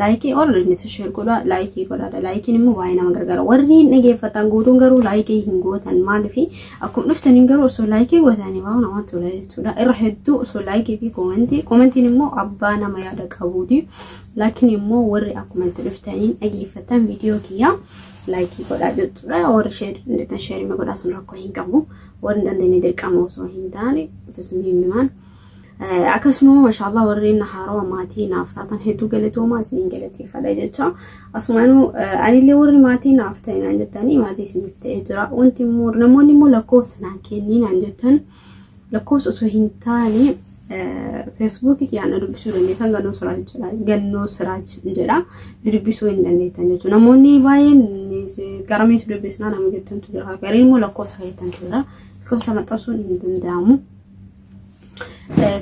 Laayikii ol niti sheer godhaa laayikii godhaadha laayikiin immoo baay'ee nama gargaara warri hin dhageeffatan guutuun garuu laayikii hin gootan maaliif akkuma dhuftaniin garuu osoo laayikii gootanii baay'ee namatti tola jechuudha irra hedduu osoo laayikii fi koomentii koomentiin immoo abbaa nama yaada qabuuti laakiin immoo warri akkuma itti dhuftaniin dhageeffatan viidiyoo kiyyaa laayikii godhaa jechuudha warri sheer niti sheer godhaa sun rakkoo hin qabu warri dandeenye dirqama osoo hin taane osoo hin himaan. Akkasuma mashaallah warreen haarawa maatii naaf taatan hedduu galatoomaa isiniin galateeffadha jecha asumaanuu anillee warri maatii naaf ta'e naan jettanii maatii isiniif ta'ee jira wanti immoo namoonni immoo lakkoofsa naan kennii naan jettan lakkoofsa osoo hin taane feesbuukii kiyyaan na dubbisuu dandeessan gannoo siraaj jedha gannoo siraaj jedha na dubbisuu hin dandeettan jechuudha namoonni baay'een garamee si dubbisnaa nama jettantu jira gariin immoo lakkoofsa keessantu jira lakkoofsa maxxansuun hin danda'amu.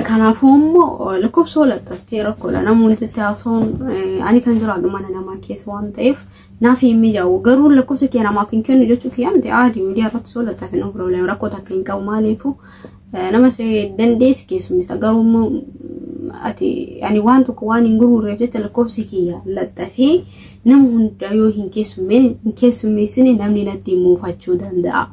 Kanaafuu immoo lakkoofsa walattaftee rakkoodha. Namoonni itti haasa'uun ani kan jiraadhu mana namaa keessa waan ta'eef naaf hin mijaa'u. Garuu lakkoofsa kee namaaf hin kennu jechuu kiyyaa miti aadii miidiyaa irratti walattafe nu problem rakkoo takka hin qabu maaliifu nama si dandeessi keessummeessa. Garuu immoo ati ani waan tokko waan hin gurgurreef jecha lakkoofsa kiyya laxxafee nama hunda yoo hin keessummeessine namni natti muufachuu danda'a.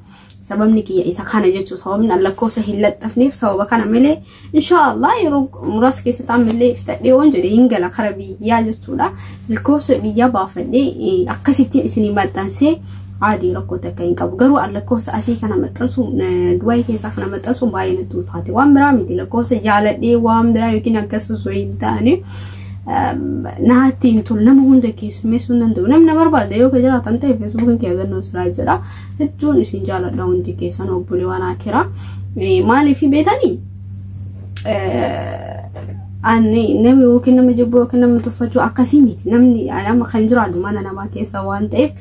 sababni kiyya isa kana jechuu sababni an lakkoofsa hin laxxafneef sababa kana malee inshaallah yeroo muraasa keessatti ammallee fitadhee waan jedhe hin gala kara biyyaa jechuudha lakkoofsa biyyaa baafadhee akkasittiin isinii maxxansee aadii rakkoo takka hin qabu garuu an lakkoofsa asii kana maxxansu du'aayii keessaa kana maxxansu baay'ee natti ulfaate waan biraa miti lakkoofsa jaaladhee waan biraa yookiin akkas osoo hin taane naatti hin tolu nama hunda keessummeessuu hin danda'u namni na barbaada yoo ka jiraatan ta'e feesbuukiin kee agannoo siraa jira hedduun isin jaaladha hundi keessan obboleewwan akira maaliif beetanii ani nama yookiin nama jibbuu yookiin nama tuffachuu akkasii miti namni nama kan jiraatu mana namaa keessa waan ta'eef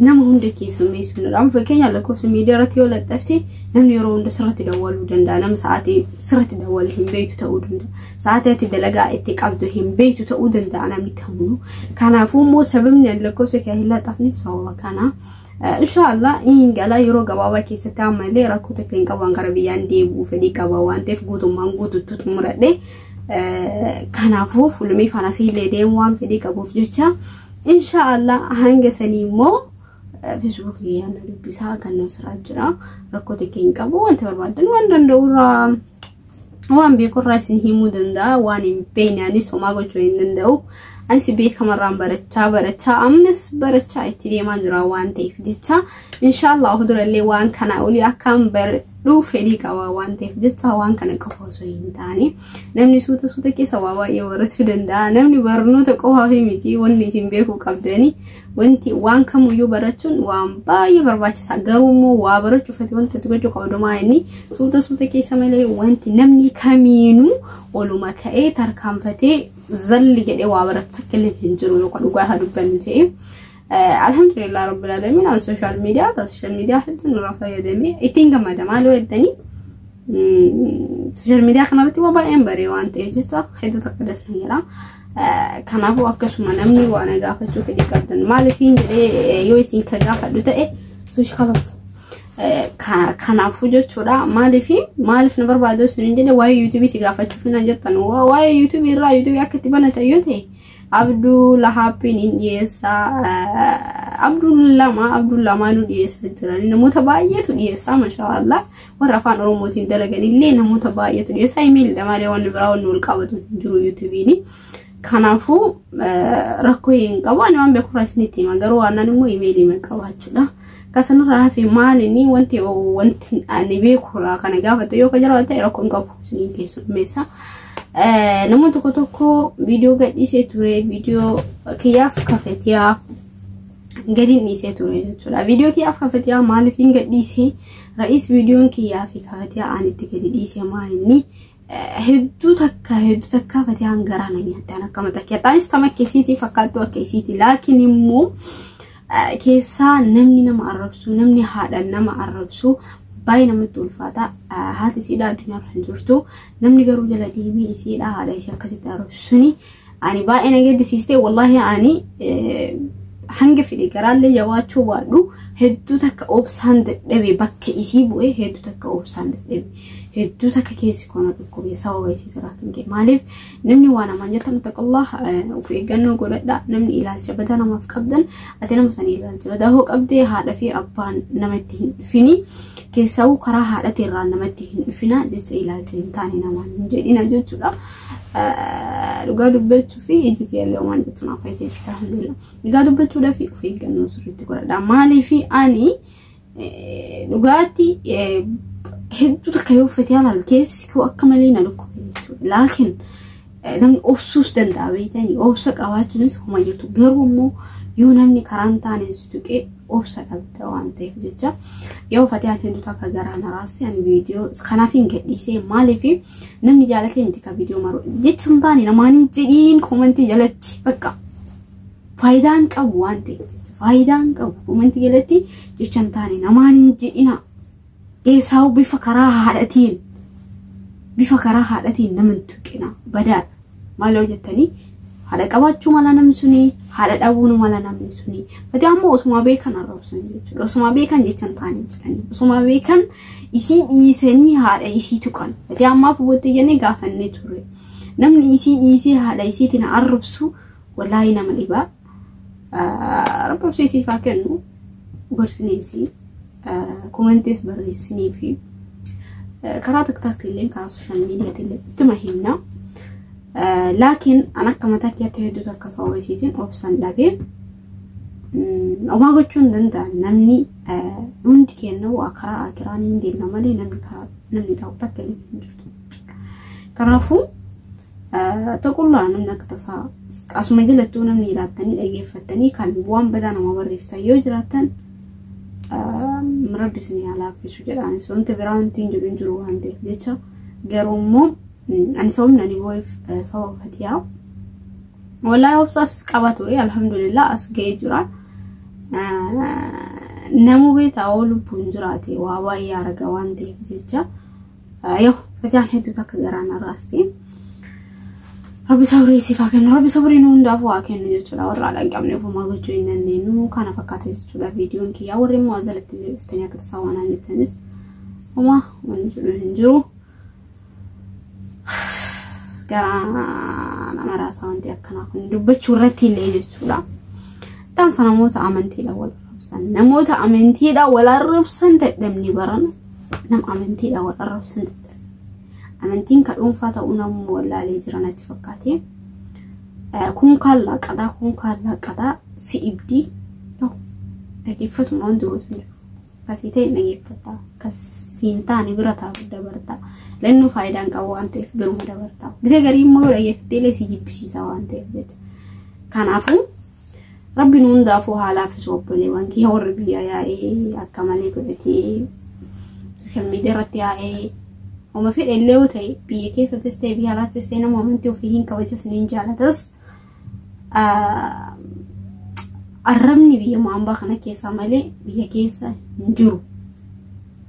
nama hunda keessummeessu hin dhabu fakkeenya lakkoofsa miidiyaa irratti yoo laxxafte namni yeroo hunda sirratti dawwaluu danda'a nama sa'aatii sirratti dawwalu hin beektu ta'uu danda'a sa'aatii ati dalagaa itti qabdu hin beektu ta'uu danda'a namni kamuu kanaafuu immoo sababni lakkoofsa kee hin laxxafneef sababa kanaa. Inshaallah hin gala yeroo gabaabaa keessatti ammallee rakkoo takka hin qaban gara biyyaan deebi'uu fedhii qaba waan ta'eef guutummaan guutuutti xumuradhe. Kanaafuu fulmii fanas illee deemu waan fedhii qabuuf jecha inshaallah hanga sanii immoo Facebook kiyyaan dubbisaa kan nu siraa jira rakkoo takka hin qabu wanti barbaadan waan danda'u irraa waan beekurraa isin himuu danda'a waan hin beekne anis homaa gochuu hin danda'u anis beekamarraan barachaa barachaa ammas barachaa itti deemaa jira waan ta'eef jecha inshaallah durallee waan kana olii akkaan baradhu fedhii qaba waan ta'eef jecha waan kana qofa osoo hin taane namni suuta suuta keessa waa baay'ee barachuu danda'a namni barnoota qofaaf miti wanni isin beekuu qabdanii Wanti waan kamuyyuu barachuun waan baay'ee barbaachisaa garuu immoo waa barachuuf ati wanti ati gochuu qabdu maa inni suuta suuta keessa malee wanti namni kamiinuu oluma ka'ee tarkaanfatee zalli jedhee waa baratu takka illee hin jiru yookaan dhugaa haa dubbannu ta'e. Alhamdulillah rabbil alamin an social media ta social media hedduun irraa fayyadamee ittiin gammada maaloo jettanii social media kanarratti waa baay'een baree waan ta'eef jecha hedduu takka das na jedha. Kanaafuu akkasuma namni waa na gaafachuu fedhii qabdan maaliif hin jedhee yoo isin ka gaafadhu ta'e suushi kalas kanaafuu jechuudha maaliif maaliif na barbaadu isin hin jedhe waa'ee yuutuubii si gaafachuuf na jettan waa'ee yuutuubii irraa yuutuubii akka itti banatan yoo ta'e abduu lahaappiin hin dhiyeessa abduun lama abduun lamaanuu dhiyeessa jiran namoota baay'eetu dhiyeessa mashaallah warra afaan oromootiin dalagan illee namoota baay'eetu dhiyeessaa imeelidha malee wanni biraa wanni wal qabatu hin jiru yuutubiini. Kanaafuu rakkoo hin qabu ani waan beekurraa isinitti hima garuu waan immoo imeelii hin qabaachuudha. Kasanirraa hafe maalinni wanti wanti ani beekurraa kana gaafatu yoo ka jiraate rakkoo hin qabu isiniin keessummeessa. Namoonni tokko tokko viidiyoo gadhiisee ture viidiyoo kiyyaaf kafetiyaa gadi dhiisee ture jechuudha. Viidiyoo kiyyaaf kafetiyaa maaliif hin gadhiisee? Ra'is viidiyoon kiyyaa fi ka fatiyaa aan itti gadi dhiise maa inni hedduu takka hedduu takka fatiyaan garaa na nyaattaan akka mata keetaanis tama akka isiitii fakkaattuu akka isiitii laakiin immoo keessaa namni nama arrabsu namni haadha nama arrabsu baay'ee namatti ulfaata haati isiidhaa addunyaa kan jirtu namni garuu jala deemee isiidhaa haadha isii akkasitti arrabsu suni Ani baay'ee na gaddisiistee wallaahi ani hanga fedhe garaallee jabaachuu baadhu hedduu takka obsaan dadhabe bakka isii bu'ee hedduu takka obsaan dadhabe hedduu takka keessi koona dhukkubee sababa isii irraa kan ka'e maaliif namni waan amaan jettan taqallah of eeggannoo godhadha namni ilaalcha badaa namaaf qabdan ati nama sana ilaalcha badaa hoo qabdee haadha fi abbaan namatti hin dhufini keessaawuu karaa haadhati irraa namatti hin dhufina jecha ilaalcha hin taane namaan hin jedhina jechuudha. Dhugaa dubbachuu fi iji tiyallee waan jettu naaf fayyadee jirti alhamdulillah. Dhugaa dubbachuudhaa fi of eeggannoo sirriitti godhadha. Maaliif ani dhugaatti hedduu takka yoo uffate halaal keessi koo akka malee na dhukkube jechuudha. Laakiin namni obsuus danda'a beektanii obsa qabaachuunis homa jirtu garuu immoo yoo namni karaan taaneen si tuqee obsa dhabda waan ta'eef jecha yoo fatiyaan hedduu takka garaa naraasti ani viidiyoo kanaaf hin gadhiisee maaliif namni jaalatee miti ka viidiyoo maruu jechuun taane namaan hin jedhiin koomantii jalatti bakka faayidaan qabu waan ta'eef jecha faayidaan qabu koomantii jalatti jechaan taane namaan hin jedhina Eesaawu bifa karaa haadhatiin bifa karaa haadhatiin nama hin tuqina badaadha maaloo jettanii haadha qabaachuu mala namni suni haadha dhabuun mala namni suni badaa immoo osumaa beekan arrabsan jechuudha osumaa beekan jechan taanii jedhanii osumaa beekan isii dhiisanii haadha isii tuqan badaa ammaaf booddee jennee gaafannee ture namni isii dhiisee haadha isiitiin arrabsu walaayii nama dhibaa Rabbi obsii siif haa kennu gorsiniisi komentees barreessinii fi karaa tiktaaktii illee karaa sooshaal miidiyaatti illee ittuma himna. Laakiin an akka mataa kiyyaatti hedduutu akka sababa isiitiin obsan dhabee omaa gochuu hin danda'an namni hundi kenna waa karaa akiraa ni deemna malee namni karaa namni taa'u takka illee hin jirtu. Kanaafuu Taqullaa namni akka tasaa asuma jalattuu namni ilaattanii dhageeffattanii kan bu'aan badaa nama barreessitan yoo jiraattan rabbi isin haa laaffisu jedhaanis wanti biraa wanti hin jiru hin jiru waan ta'eef jecha garuu immoo ani sababni ani boo'eef sababa fatiyaa wallahi obsaafis qaba ture alhamdulillah as ga'ee jira namuu beetaa oo lubbuun jiraate waa baay'ee arga waan ta'eef jecha Yoo fayyaan hedduu takka garaa na raaste. Rabbi sabrii siif haa kennu. Rabbi sabrii nu hundaaf waa kennu jechuudha. Warra haadha hin qabne ofumaa gochuu hin dandeenyu. Kana fakkaata jechuudha viidiyoon kiyyaa. Warri immoo ajalatti illee dhuftanii akka tasaa waan hin jettanis. Homaa wanni jedhu hin jiru. Garaa nama raasaa wanti akkanaa kun dubbachuu irratti illee jechuudha. Dhaamsa namoota amantiidhaan wal arrabsan. Namoota amantiidhaan wal arrabsan dadhabni barana. Nam amantiidha wal arrabsan amantiin ka dhuunfaa ta'uu namni wallaalee jira natti fakkaate. Kun kaan laaqataa kun kaan laaqataa si dhibdii dhageeffatuma wanti gootu hin jiru. Kasii ta'e dhageeffatta kasii hin taane bira taa'u dabarta. Lannuu faayidaan qabu waan ta'eef biruma dabarta. Gisa garii immoo dhageeffattee illee si jibbisiisa waan ta'eef jecha. Kanaafuu Rabbiin hundaafuu haa laaffisu obboleewwan kiyya warri biyyaa yaa'ee akka malee godhatee sooshaal miidiyaa irratti yaa'ee homa fedhe illee yoo ta'e biyya keessattis ta'e biyya alaattis ta'e nama amantii ofii hin kabajas ni jaalatas. Arrabni biyya maambaa kana keessaa malee biyya keessa hin jiru.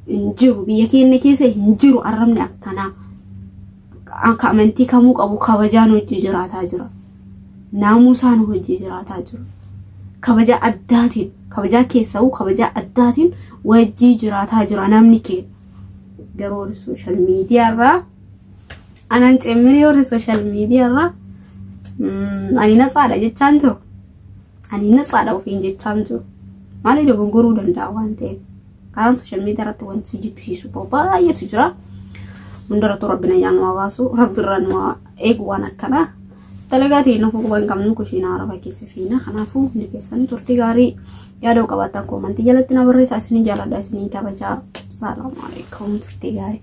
Hin jiru biyya keenya keessa hin jiru arrabni akkanaa. akka amantii kamuu qabu kabajaan hojii jiraataa jira. Naamusaan hojii jiraataa jira. Kabajaa addaatiin, kabajaa keessa'uu kabajaa addaatiin wajjii jiraataa jira namni keenya. Garuu warri sooshaal miidiyaarraa anaan cimminee warri sooshaal miidiyaarraa ani natsaadha jechaan jiru. Ani natsaadha ofiin jechaan jiru. Maaliif dogongoruu danda'a waan ta'eef. Karaan sooshaal miidiyaa irratti wanti jibbisiisu bahu baay'eetu jira. Hundarrattuu rabbi nagaa nu baasu rabbi irraa nu eegu waan akkanaa. Dalagaa ta'e nuuf quban qabnu kushiinaa araba keessa fiina. Kanaafuu hundi keessanii turtii gaarii yaada qabaattan koomantii jalatti na barreessaa isiniin jaaladha isiniin kabajaa. Salaamu alaikum turtii gaarii.